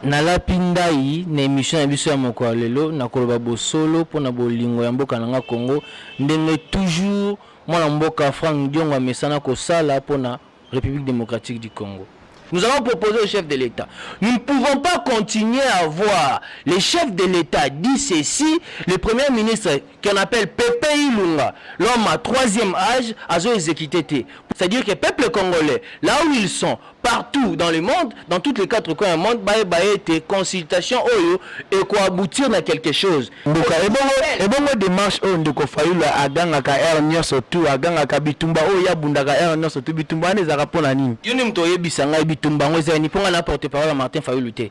Nalapi ndayi na emission na biso ya moko ya lelo nakoloba bosolo pona bolingo ya mboka na nga Congo ndenge toujours mwana mboka Franck Diongo amesana kosala pona Republique Democratique du Congo. Nous allons proposer au chef de l'Etat. Nous ne pouvons pas continuer à voir le chef de l'Etat dit ceci, le premier ministre qu'on appelle Pepe Ilunga, l'homme à troisième âge, azo exécuter te. C'est-à-dire que peuple congolais, là où ils sont, partout dans le monde, dans toutes les quatre coins du monde, baye baye te consultation oyo et quoi aboutir na quelque chose. Ndoka ebongo ebongo démarche oyo ndeko Fayulu agangaka heure nyonso tout agangaka bitumba oyo ya bundaka heure nyonso tout bitumba wana ezalaka pona nini? Yo nde moto oyebisa ngai bitumba yango eza nini mpo ngai na porte parole ya Martin Fayulu te.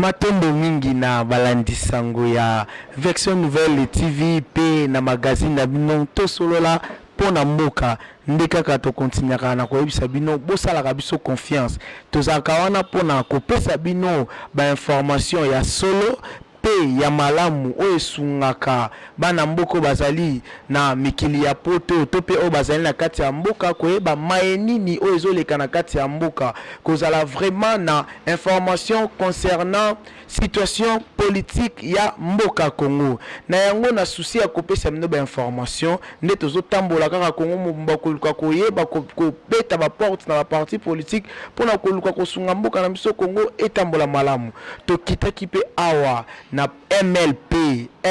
Matondo mingi na balandi sango ya Version Nouvelle TV pe na magazine na bino Tosolola po na mboka. Nde kaka to continuaka na koyebisa bino bosalaka biso confiance. Tozalaka wana po na kopesa bino ba informations ya solo pe ya malamu oyo esungaka bana mboka oyo bazali na mikili ya poto to pe oyo bazali na kati ya mboka koyeba maye nini oyo ezoleka na kati ya mboka kozala vraiment na information concernant situation politique ya mboka Congo na yango na souci ya kopesa bino ba information nde tozotambola kaka Congo mobimba koluka koyeba kobeta ba porte na ba parti politique mpo na koluka kosunga mboka na biso Congo etambola malamu tokitaki mpe awa na MLP,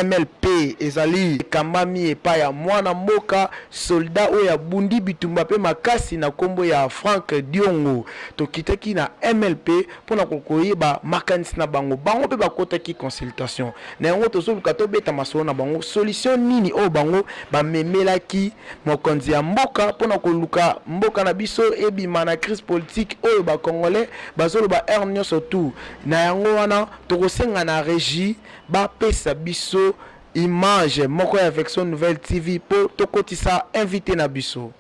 MLP ezali ekambami epai ya mwana mboka soldat oyo abundi bitumba mpe makasi na kombo ya Franck Diongo. Tokitaki na MLP mpo na kokoyeba makanisi na bango. Bango mpe bakotaki consultation. Na yango tozoluka tobeta masolo na bango solution nini oyo bango bamemelaki mokonzi ya mboka mpo na koluka mboka na biso ebima na crise politique oyo ba congolais bazoloba heure nionso tout na yango wana Tokosenga na regie ba pesa biso image moko ya Vexo Nouvelle TV po tokotisa invite na biso.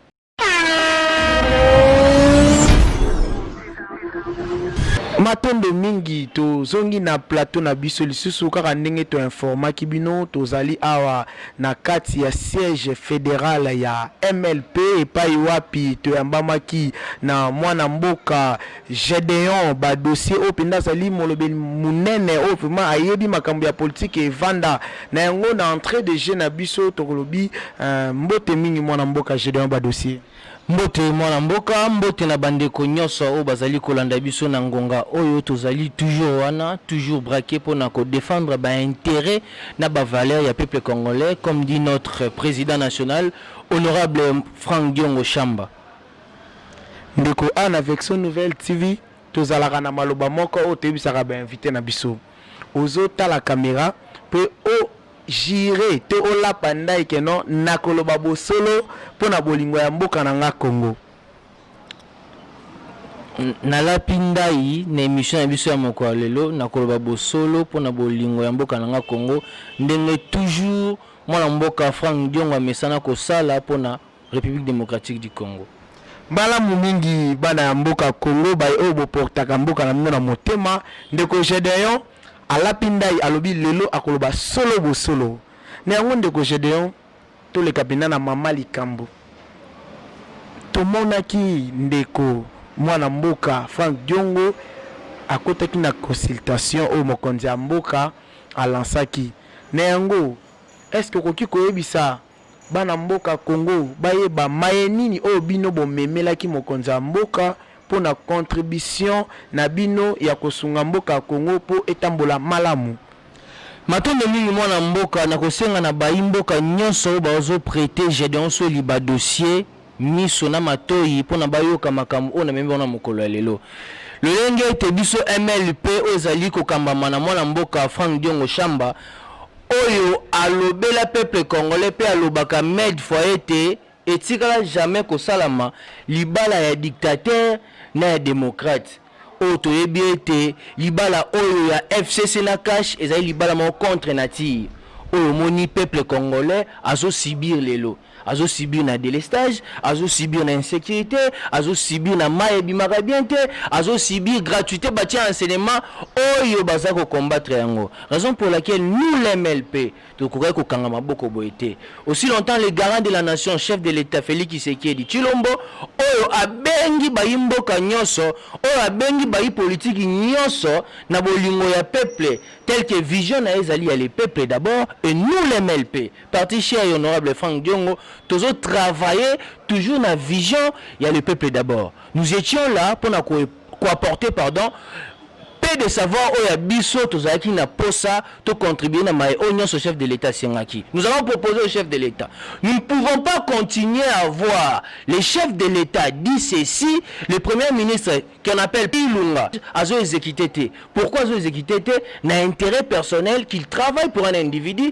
Matondo mingi tozongi na plateau na biso lisusu kaka ndenge to informaki bino tozali awa na kati ya siège federal ya MLP epai wapi toyambamaki na mwana mboka Gedeon ba dossier oyo penza azali molobeli munene oyo vraiment ayebi makambo ya politique evanda na yango na entre de jeux na biso tokolobi mbote mingi mwana mboka Gedeon ba dossier. Mbote mwana mboka, mbote na ba ndeko nionso oyo bazali kolanda biso na ngonga oyo, tozali toujours wana toujours braque pona ko defendre ba interet na ba valeur ya peuple congolais comme dit notre president national honorable Franck Diongo Shamba. Ndeko Anne avec son nouvelle TV tozalaka na maloba moko oyo toyebisaka ba invite na biso. Ozo tala camera pe o jure to olapa ndayi que non nakoloba bosolo pona bolingo ya mboka na nga Congo. Nalapi ndayi na emission na biso ya mokolo ya lelo nakoloba bosolo pona bolingo ya mboka na nga Congo ndenge toujours mwana mboka Franck Diongo amesana kosala pona Republique Democratique du Congo. Malamu mingi bana ya mboka Congo baye oyo boportaka mboka na bino na motema. Ndeko Gedeon alapi ndai alobi lelo akoloba solo bosolo. Na yango ndeko Gedeon toleka mpenza na mama likambo. Tomonaki ndeko mwana mboka Frank Diongo akotaki na consultation oyo mokonzi ya mboka alansaki. Na yango est-ce que okoki koyebisa Bana mboka Congo bayeba maye nini oyo bino bomemelaki mokonzi ya mboka mpo na contribution na bino ya kosunga mboka ya Congo mpo etambola malamu. Matondo mingi mwana mboka, nakosenga na bayi mboka nionso oyo bazo preter Gedeon Soli ba dossiers, miso na matoyi mpo na bayoka makambo oyo namemi bango na mokolo ya lelo. Lolenge ete biso MLP oyo ezali kokambama na mwana mboka Franck Diongo Shamba oyo alobela peuple congolais mpe alobaka med fois ete etikala jamais kosalama libala ya dictateur na ya democrate. Oyo toyebi ete libala oyo ya FCC na CACH ezali libala moko contre nature. Oyo omoni peuple congolais azo subir lelo, azo subir na delestage, azo subir na insecurite, azo subir na mayi ebimaka bien te, azo subir gratuite batie enseignement oyo baza ko combattre yango. Raison pour laquelle nous les MLP. tokokaki kokanga maboko boye te aussi longtemps le garant de la nation chef de l'etat Felix Tshisekedi Tshilombo oyo abengi bayi mboka nyonso oyo abengi bayi politiki nyonso na bolingo ya peuple tel que vision na ye ezali ya le peuple d'abord et nous les MLP parti cher et honorable Franck Diongo tozo travailler toujours na vision ya le peuple d'abord nous étions là pona ko ko apporter pardon peu de savoir oyo ya biso tozalaki na posa to contribuer na maye oyo nyonso chef de l'État asengaki. Nous avons proposé au chef de l'État. Nous ne pouvons pas continuer à voir le chef de l'État dit ceci, le premier ministre qu'on appelle Ilunga azo exécuter te. Pourquoi azo exécuter te? Na intérêt personnel qu'il travaille pour un individu.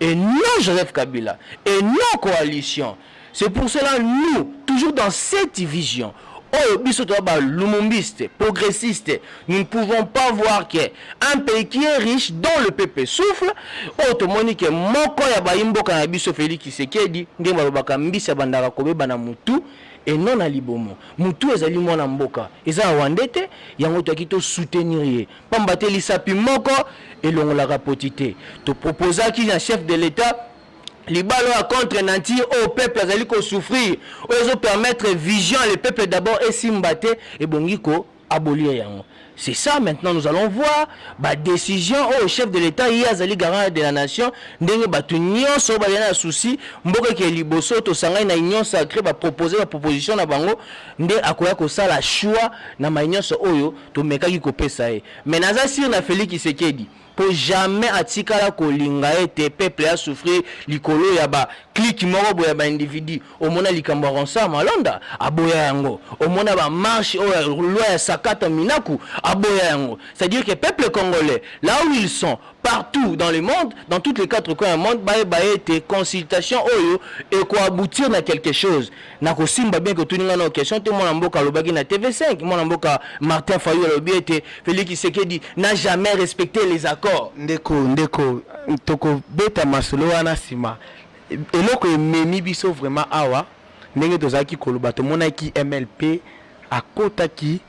et non Joseph Kabila et non coalition c'est pour cela nous toujours dans cette vision oyo biso toza ba lumumbiste progressiste nous ne pouvons pas voir que un pays qui est riche dont le peuple souffle oyo tomoni que moko ya bayi mboka na biso Felix Tshisekedi ndenge balobaka mbisi abandaka kobeba na mutu et non na libomo mutu ezali muana mboka eza rwandais te yango toyaki to soutenir ye Pamba te lisapi moko elongolaka poti te. To proposaki na chef de l'etat libalo ya contre nature oyo oh, peuple azali ko souffrir oyo ezo permettre vision le peuple d'abord esimba te ebongi ko abolir yango c'est ça maintenant nous allons voir ba décision oyo oh, chef de l'état ye azali garant de la nation ndenge bato nyonso bazali na souci mboka eke liboso tosangani na union sacré bapropose baproposition na bango nde akoya kosala choix na mai nyonso oyo Tomekaki kopesa ye mais naza sur na Felix Tshisekedi po jamais atikala kolinga ete peuple a souffrir likolo ya ba clique moko boye ya ba individu. Omona likambo ya Ronsard Malonda? Aboya yango. Omona ba marche oyo ya loi ya sakata minaku? Aboya yango. C'est à dire que peuple congolais là où ils sont partout dans le monde, dans toutes les quatre coins ya monde bayeba ete consultation oyo eko aboutir na quelque chose. na kosimba bien que otuni ngai nao question te mwana mboka alobaki na tv5 mwana mboka martin fayu alobi ete félix kisekedi na jamais respecte les accords ndeko ndeko tokobeta masolo wana nsima eloko ememi biso vraiment awa ndenge tozalaki koloba tomonaki mlp akotaki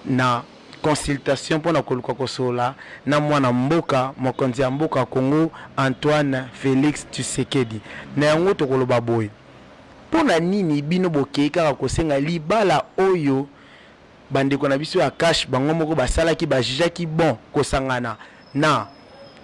na consultation mpo na koluka kosolola na mwana mboka mokonzi ya mboka congo antoine félix tshisekedi na yango tokoloba boye Pona nini bino bokeyi kaka kosenga libala oyo ba ndeko na biso ya cash bango moko basalaki ba jugeaki bon kosangana na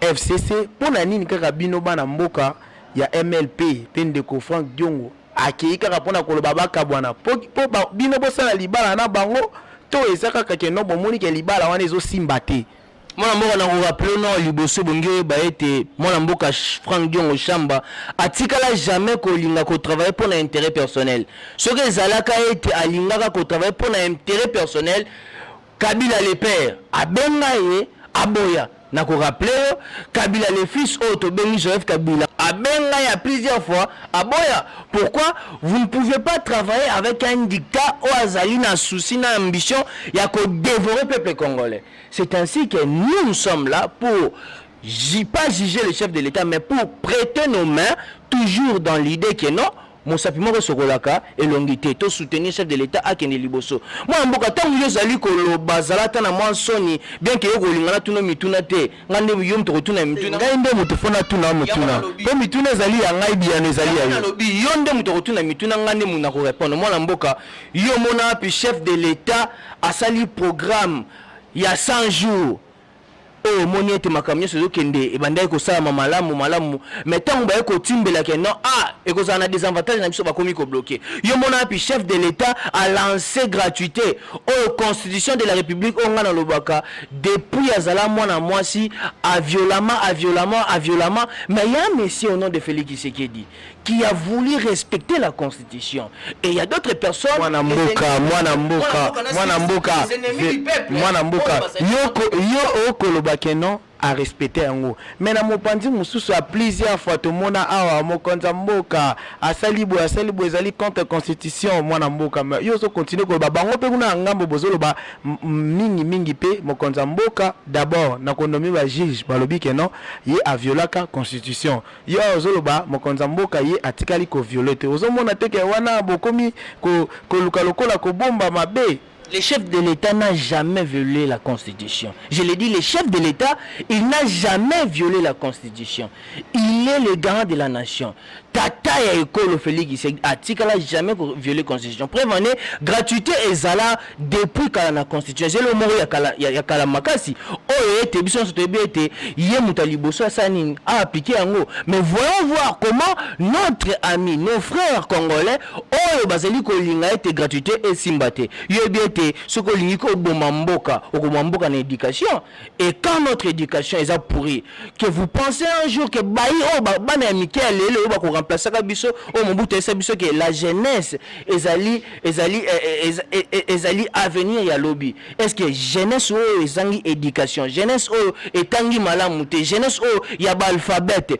FCC pona nini kaka bino bana mboka ya MLP pe ndeko Franck Diongo akeyi kaka pona koloba bakabwana po po bino bosala libala na bango to eza kaka ke non bomoni ke libala wana ezo simba te. mwana mboka na korapele nao liboso ebongi oyeba ete mwana mboka frank diongo shamba atikala jamais kolinga kotravaille mpo na intérêt personnel soki ezalaka ete alingaka kotravaille mpo na intérêt personnel kabila le père abenga ye aboya na koraple yo kabila le fils oyo tobengi joseph kabila abenga ya plusieurs fois aboya pourquoi vous ne pouvez pas travailler avec un dictat oyo azali na souci na ambition ya kodevore peuple congolais C'est ainsi que nous nous sommes là pour pas juger le chef de l'État mais pour prêter nos mains toujours dans l'idée que non mosapi moko esokolaka elongi te to soutenir chef de l'État akende liboso mwana mboka ntango yo ozali koloba zala ata na mwa nsoni bien ke yo kolinga natuna mituna te ngai nde yo moto kotuna mituna ngai nde moto mpo natuna motuna mpo mituna ezali ya ngai biyano ezali ya yo nalobi yo nde moto kotuna mituna ngai nde moto nakorepondre mwana mboka yo omona wapi chef de l'État Asali programme ya 100 jours oyo omoni ete makambo nyonso ezokende ebandaki kosalama malamu malamu me ntango baye kotimbela ke non a ah, ekozala na desavantage na biso bakomi kobloke yo mona wapi chef de l'etat alance gratuité oyo constitution de la république oyo ngai nalobaka depuis azala mwana mwasi aviolama aviolama aviolama me ya monsieur au nom de félix isekedi qui a voulu respecter la constitution et il y a d'autres personnes mwana mboka mwana mboka mwana mboka mwana mboka yo okoloba ke non a respecter yango mais na mopanzi mosusu a plusieurs fois tomona awa mokonzi ya mboka asali boye asali boye ezali contre constitution mwana mboka yo ozo continue koloba bango mpe kuna ya ngambo bozoloba mingi mingi mpe mokonzi ya mboka d'abord na kondomi ba juge balobi ke non ye aviolaka constitution Yo awa ozo loba mokonzi ya mboka ye atikali ko viole te ozo mona te ke wana bokomi ko koluka lokola ko bomba mabe. Le chef de l'etat n'a jamais viole la constitution je le dis le chef de l'etat il n'a jamais viole la constitution il est le garant de la nation tata ya ekolo Felix tshisekdi atikala jamais ko viole constitution preuve en est gratuite ezala Depuis kala na constitution eza eloko moko ya kala, ya, ya kala makasi oyo ete biso nyonso toyebi ete ye moto ya liboso asala nini a appliquer yango mais voyons voir comment notre ami nos frères congolais oyo bazali kolinga ete gratuite esimba te yo yebi ete soki olingi koboma mboka okoboma mboka na education Et quand notre éducation eza pourri, que vous pensez un jour que bayi oyo ba- bana ya mike ya lelo oyo bako remplacaka biso oyo Mobutu ayesa biso que la jeunesse ezali ezali eh, eh, eza- eh, eh, ezali avenir ya lobi. Est-ce que jeunesse oyo ezangi éducation, jeunesse oyo etangi malamu te, jeunesse oyo ya ba alphabète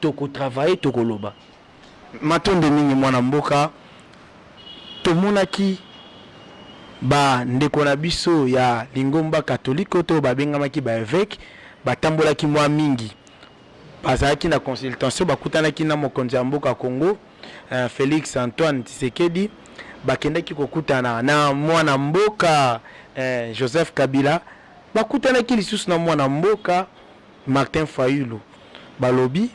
Toko travailler toko loba. Matondo mingi mwana mboka, tomonaki ba ndeko na biso ya lingomba katoliko to babengamaki ba eveque batambolaki mwa mingi bazalaki na consultation bakutanaki na mokonzi ya mboka Congo eh, Felix Antoine Tshisekedi bakendaki kokutana na mwana mboka eh, Joseph Kabila bakutanaki lisusu na mwana mboka Martin Fayulu balobi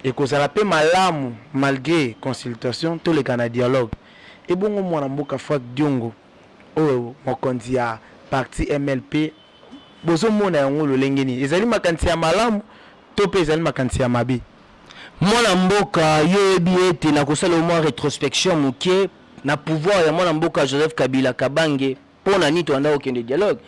ekozala mpe malamu malgre consultation toleka na dialogue. Ebongo muana mboka Franck Diongo oyo mokonzi ya parti MLP bozo mona yango lolenge nini? Ezali makanisi ya malamu to mpe ezali makanisi ya mabe? Mwana mboka yo oyebi ete nakosala yo mwa retrospection moke na pouvoir ya mwana mboka Joseph Kabila Kabange Mpo na nini tobandaki kokende dialogue?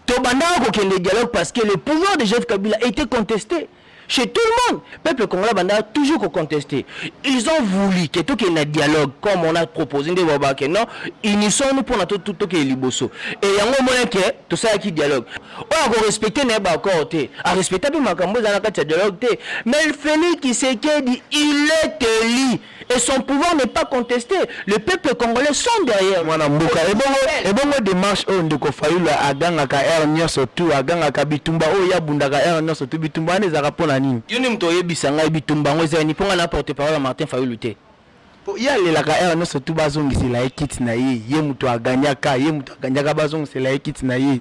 Tobandaki kokende dialogue parce que le pouvoir de Joseph Kabila était contesté chez tout le monde. Peuple congolais abandaka toujours ko contester. Ils ont voulu que tokende na dialogue comme on a proposé nde baba que non unissons-nous mpo na tokende liboso. Et yango omona que tosalaki dialogue. Oyo akorespecte na ye baaccord te arespecta mpe makambo ezala na kati ya dialogue te. Mais Felix Tshisekedi il est élu et son pouvoir n'est pas contesté le peuple congolais sont derrière mwana mboka ebongo ebongo démarche oyo ndeko fayulu agangaka heure nyonso tu agangaka bitumba oyo ye abundaka heure nyonso tu bitumba wana ezalaka mpo na nini yo nde moto oyebisa ngai bitumba yango ezali nini mpo ngai na porte parole ya martin fayulu te mpo ye alelaka heure nyonso tu bazongisela ye kiti na ye ye moto aganyaka ye moto aganyaka bazongisela ye kiti na ye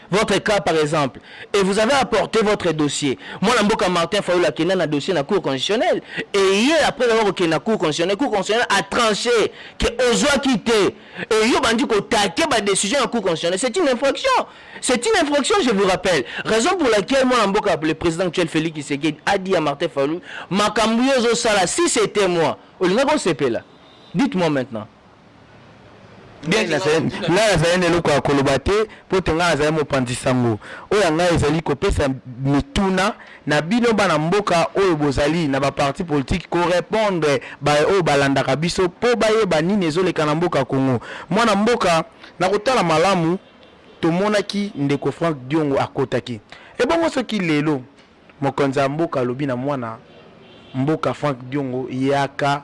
votre cas par exemple et vous avez apporté votre dossier mwana mboka martin fayulu akenda na dossier na cour constitutionnel et ye après avoir kokende na cour constitutionnel cour constitutionnel a tranché ke ozwaki te et yo bandi kotate badécision ya cour constitutionnel c'est une infraction c'est une infraction je vous rappelle raison pour laquelle mwana mboka le président actuel félix kisekedi a dit ya martin fayulu makambo yo ozosala si c'était moi olingaki osepela dites moi maintenant ngai nazali na eloko ya koloba te mpo te ngai nazali mopanzi sango oyo ya ngai ezali kopesa mituna na bino bana mboka oyo bozali na baparti politike korepondre baye oyo balandaka biso mpo bayeba nini ezoleka na mboka congo mwana mboka na kotala malamu tomonaki ndeko frank diongo akotaki ebongo soki lelo mokonzi ya mboka alobi na mwana mboka frank diongo yaka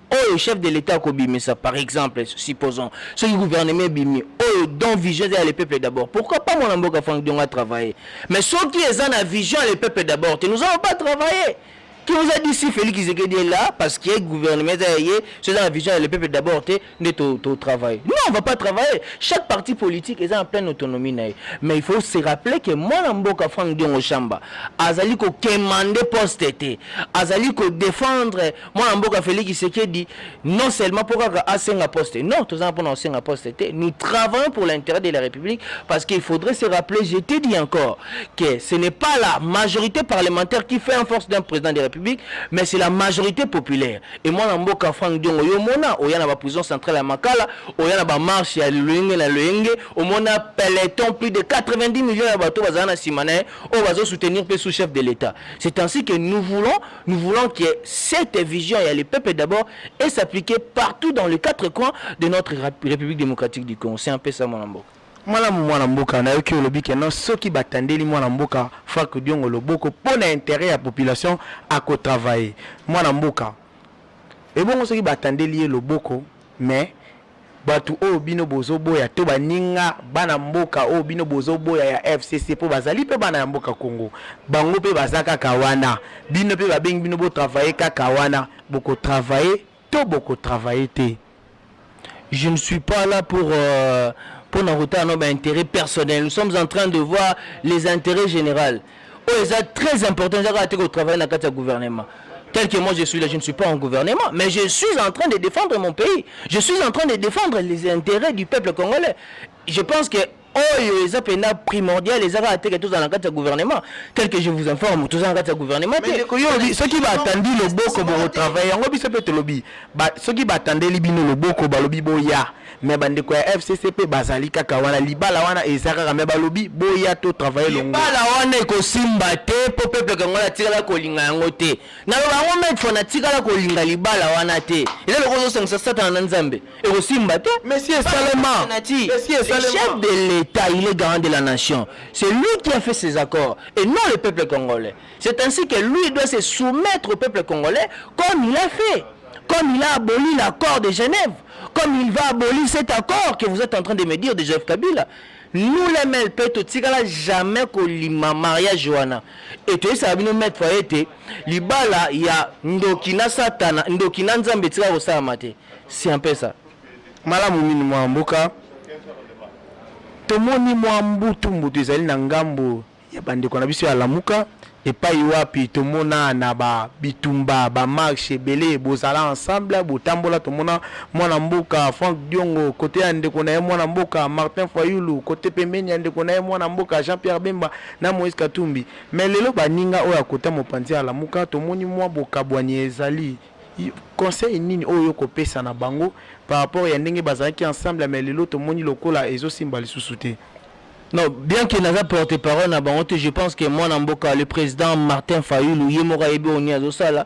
oyo chef de l'etat akobimisa par exemple supposons soki gouvernement ebimi oyo don vision eza ya le peuple d'abord pourquoi pas mwana mboka frank diongo atravaille mais soki eza na vision ya le peuple d'abord te nous allons pas travailler qui nous a dit si Félix Tshisekedi est là parce que gouvernement eza ya ye so eza na vision ya le peuple d'abord te nde to, to travaille non on va pas travailler chaque parti politique eza na pleine autonomie na ye mais il faut se rappeler que mwana mboka Frank Diongo Shamba azali ko quémander poste te azali ko défendre mwana mboka Felix Tshisekedi non seulement mpo kaka asenga poste non tozanga mpona kosenga poste te nous travaillons pour l'intérêt de la République parce qu'il faudrait se rappeler je te dis encore que ce n'est pas la majorité parlementaire qui fait en force d'un président de la République mais c'est la majorité populaire et mwana mboka Frank Diongo yo mona oya na ba prison centrale ya Makala oya na ba marche ya loyenge na loyenge omona peloton plus de 90 millions ya bato bazala na nsima na ye oyo bazosoutenir mpe sous-chef de l'État c'est ainsi que nous voulons Nous voulons que cette vision ya le peuple d'abord et s'appliquer partout dans les quatre coins de notre République démocratique du Congo. C'est un peu ça, mon ambo. malamu mwana mboka nayoki olobi keno soki batandeli mwana mboka frank diongo loboko mpo na interet ya population akotravaille mwana mboka ebongo soki batandeli ye loboko Mais batu oyo bino bozo boya to baninga bana mboka oyo bino bozo boya ya FCC po bazali pe bana ya mboka Congo bango pe baza kaka wana bino pe babengi bino bo travailler kaka wana boko travailler to boko travailler te Je ne suis pas là pour euh, pour na kotala no ba intérêts personnels. Nous sommes en train de voir les intérêts généraux. oyo oh, eza très important eza kaka te kotravaille na kati ya gouvernement tel que moi je suis là, je ne suis pas en gouvernement, mais je suis en train de défendre mon pays. Je suis en train de défendre les intérêts du peuple congolais. Je pense que oyo oh, eza pena primordial eza kaka teke tozala na kati ya gouvernement tel que je vous informe toza na kati ya gouvernement te soki batandi loboko bokotravaille yango biso mpe tolobi soki batandeli bino loboko balobi boya mais bandeko ya fcc mpe bazali kaka wana libala wana eza kaka mais balobi boya to travaille longo libala wana ekosimba te mpo peuple kango natikala kolinga yango te naloba yango maitre fo natikala kolinga libala wana te eza loko ozosangisa satana na nzambe ekosimba te monsieur esalema chef de l'état il est garant de la nation c'est lui qui a fait ses accords et non le peuple congolais c'est ainsi que lui doit se soumettre au peuple congolais comme il a fait comme il a aboli l'accord de Genève, comme il va abolir cet accord que vous êtes en train de me dire de Joseph Kabila, nous les MLP totikala jamais kolima mariage wana et toyesaka bino maître fois ete libala ya ndoki na satana ndoki na nzambe etika kosalama te si un peu ça malamu mini mwa mboka tomoni mwa mbutu mbutu ezali na ngambo ya bandeko na biso ya Lamuka epai wapi tomona na ba bitumba ba marche ebele bozala ensemble botambola tomona mwana mboka Frank Diongo kote ya ndeko na ye mwana mboka Martin Fayulu kote pembeni ya ndeko na ye mwana mboka Jean Pierre Bemba na Moïse Katumbi mais lelo baninga oyo akota mopanzi ya Lamuka tomoni mwa bokabwani ezali conseil nini oyo okopesa na bango par rapport ya ndenge bazalaki ensemble mais lelo tomoni lokola ezosimba lisusu te Non, bien que naza porte-parole na bango te, je pense que mwana mboka le président Martin Fayulu ye moko ayebi oyo nini azosala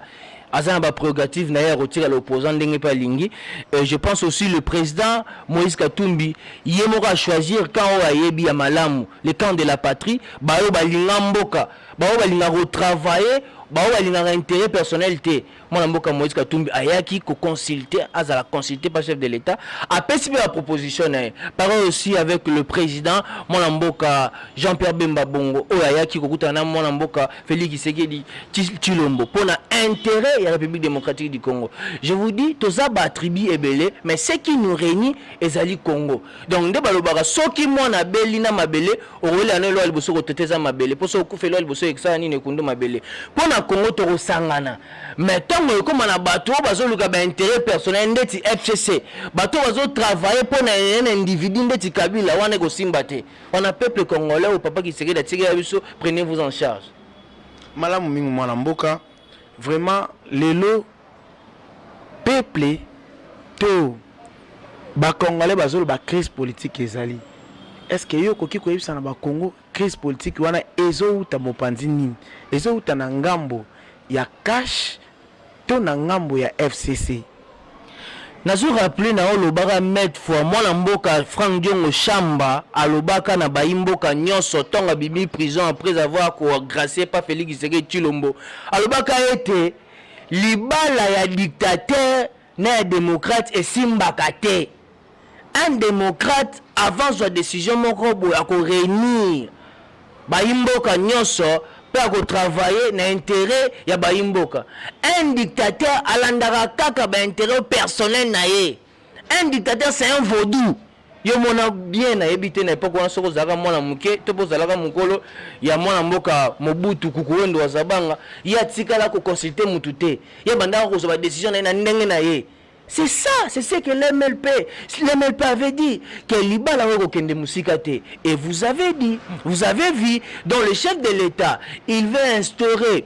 aza na baprerogative na ye ya kotikala opposant ndenge mpe alingi euh, je pense aussi le président moïse katumbi ye moko achoisir camp oyo ayebi ya malamu le camp de la patrie baoyo balinga mboka baoyo balinga kotravaille baoyo balingaka intérêt personnel te mwana mboka Moïse Katumbi ayaki ko consulter azala consulter par chef de l'État apesi pe ba proposition na ye pareil aussi avec le président mwana mboka Jean-Pierre Bemba Bongo oyo ayaki kokutana na mwana mboka Félix Tshisekedi Tshilombo mpo na intérêt ya République démocratique du Congo je vous dis toza ba tribu ebele mais ce qui nous réunit ezali Congo Donc nde balobaka soki mwana abeli na mabele okolela na elwa liboso kotete eza mabele mpo soki okufa elwa liboso ekosala nini ekundu mabele mpo na Congo tokosangana mais ntango ekoma na bato oyo bazoluka ba interet personnel ndeti FCC bato oyo bazotravaille mpo na un individu ndeti Kabila wana ekosimba te wana peuple congolais oyo papa Kisekedi atikela biso prenez vous en charge. Malamu mingi mwana mboka vraiment lelo. Peuple to ba congolais bazoloba crise politique ezali est ce que yo okoki koyebisa na ba Congo crise politique wana ezowuta mopanzi nini? Ezowuta na ngambo ya cash to na ngambo ya FCC? Nazo rappeler na yo lobaka mètre fois mwana mboka Frank Diongo Shamba alobaka na bayi mboka nyonso tonga bimi prison après avoir ko gracier pa Felix Tshisekedi Tshilombo alobaka ete Libala ya dictateur na ya democrate esimbaka te. Un democrate avant azwa decision moko boye ako reunir bayi mboka nionso mpe ako travailler na interet ya bayi mboka. Un dictateur alandaka kaka ba interets personnels na ye. Un dictateur c'est un vaudou. Yo mona bien na yebi te na epoque wana soko zalaka mwana muke to po zalaka mukolo ya mwana mboka Mobutu kukuwendo wa Zabanga ye atikala ko consulter mutu te ye bandaka kozwa ba decision na ye na ndenge na ye C'est ça, c'est ce que l'MLP, l'MLP avait dit, que Libala Wekokende Musikate. Et vous avez dit, vous avez vu, dans le chef de l'État, il veut instaurer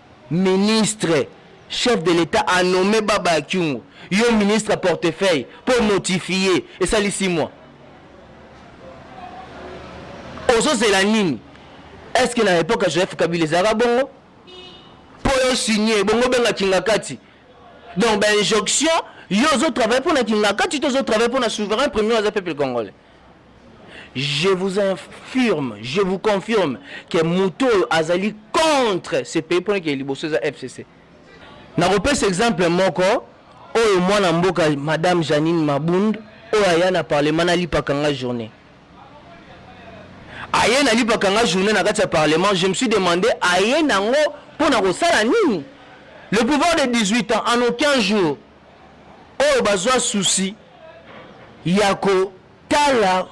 Ministre chef de l'etat a nomme baba ya kyungu yo ministre ya portefeuille po notifie esali six mois ozo zela nini est ce que na epoque ya joseph kabila ezalaka bongo po yo signe bongo benga kingakati donc ba injonction yo ozo travaille pona kingakati to ozo travaille pona souverain premier aza peuple congolais Je vous infirme, je vous confirme que moto oyo azali contre ce pays mpona kee liboso eza FCC. Nakopesa exemple moko oyo mwana mboka Madame Janine Mabund oyo aya na parlement na lipaka nga journée. Aye na lipaka nga journée na kati ya parlement, je me suis demandé aye nango mpona kosala nini? Le pouvoir de 18 ans en aucun jour oyo bazwa susi ya kotala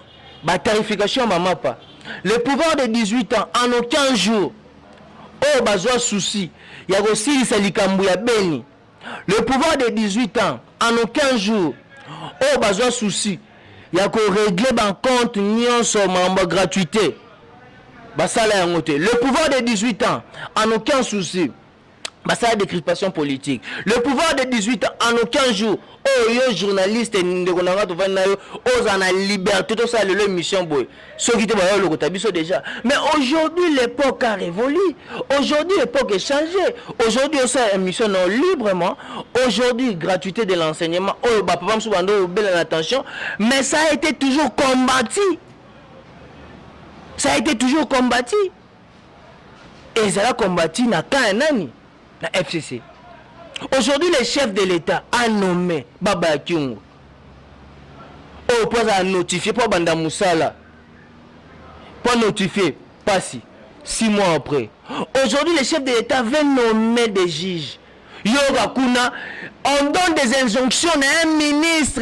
batarification ya mamapa le pouvoir de 18 ans en aucun jour oyo bazwa susi ya kosilisa likambo ya beni le pouvoir de 18 ans en aucun jour oyo bazwa susi ya koregle bancompte nyonso mambo gratuité basala yango te le pouvoir de 18 ans en aucun souci basala decrispation politique le pouvoir de 18 ans en aucun jour oyo oh, yo journaliste ndeko na nga tovandi na yo ozala na liberté tosala lelo émission boye soki te bayo lokota biso déjà mais aujourd'hui l'époque a révolu aujourd'hui l'époque est changée aujourd'hui osala émission non librement aujourd'hui gratuité de l'enseignement oyo oh, bapapa mosusu bando obela na tension mais ça a été toujours combattu ça a été toujours combattu ezala combati na camp ya nani na fcc aujourd'hui le chef de l'état a nommé baba ya kiungu oyo oh, mpo azala notifie mpo abanda mosala mpo anotifie mpasi six mois après aujourd'hui le chef de l'état veut nommer des juges yoka kuna on donne des injonctions na un ministre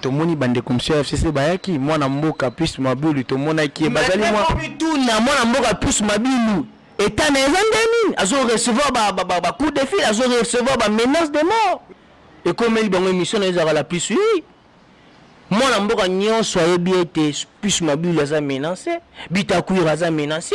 tomoni bandeko mosusu ya fcc bayaki mwana mboka plus mabilu tomonaki ye bazali mituna mwana mboka plus mabilu etat na eza nde nini azo recevoir bacout de fil azo recevoir bamenace de mort ekomeli bango émission na ezalaka la plus ui mwana mboka nyonso ayebi ete plus mabilu aza menance bitakwira aza menance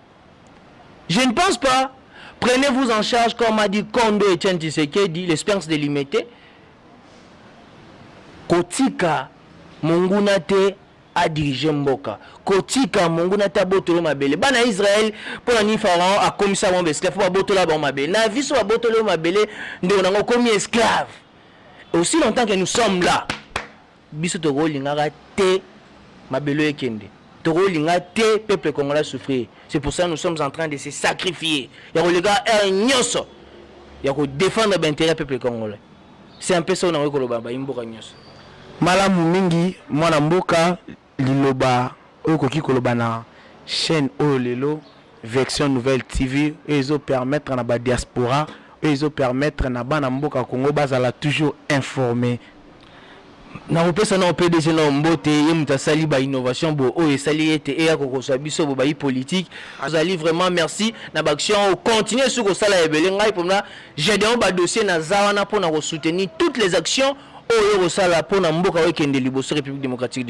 Je ne pense pas. Prenez-vous en charge, comme a dit Kondo et Chen Tshisekedi, l'espérance de limiter. Kotika monguna te a diriger mboka. Kotika monguna te abotolo mabele. Bana Israël, mpo na nini Pharaon akomisa bango esclave mpo babotola bango mabele. Na biso babotoli yo mabele ndeko nango okomi esclave. Aussi longtemps que nous sommes là. Biso toko lingaka te mabele oyo ekende toko linga te peuple congolais a souffrir c'est pour ça nous sommes entrain de se sacrifier ya koleka heure nyoso ya ko defendre ba interet ya peuple congolais c'est un peu ça oyo nakoki koloba bayi mboka nyoso. Malamu mingi mwana mboka liloba oyo okoki koloba na chaine oyo lelo vection nouvelle TV oyo ezo permettre na ba diaspora oyo ezo permettre na bana mboka congo bazala toujours informe nakopesa nao pdg nao mbote ye moto asali ba innovation bo oyo esali ete eya kokosa biso bo bayi politique azali vraiment merci na baaction oyo continue su kosala ebele ngai mpona gedeon badossier naza wana mpo na kosoutenir toutes les actions oyo yo kosala mpo na mboka oyo ekende liboso république démocratique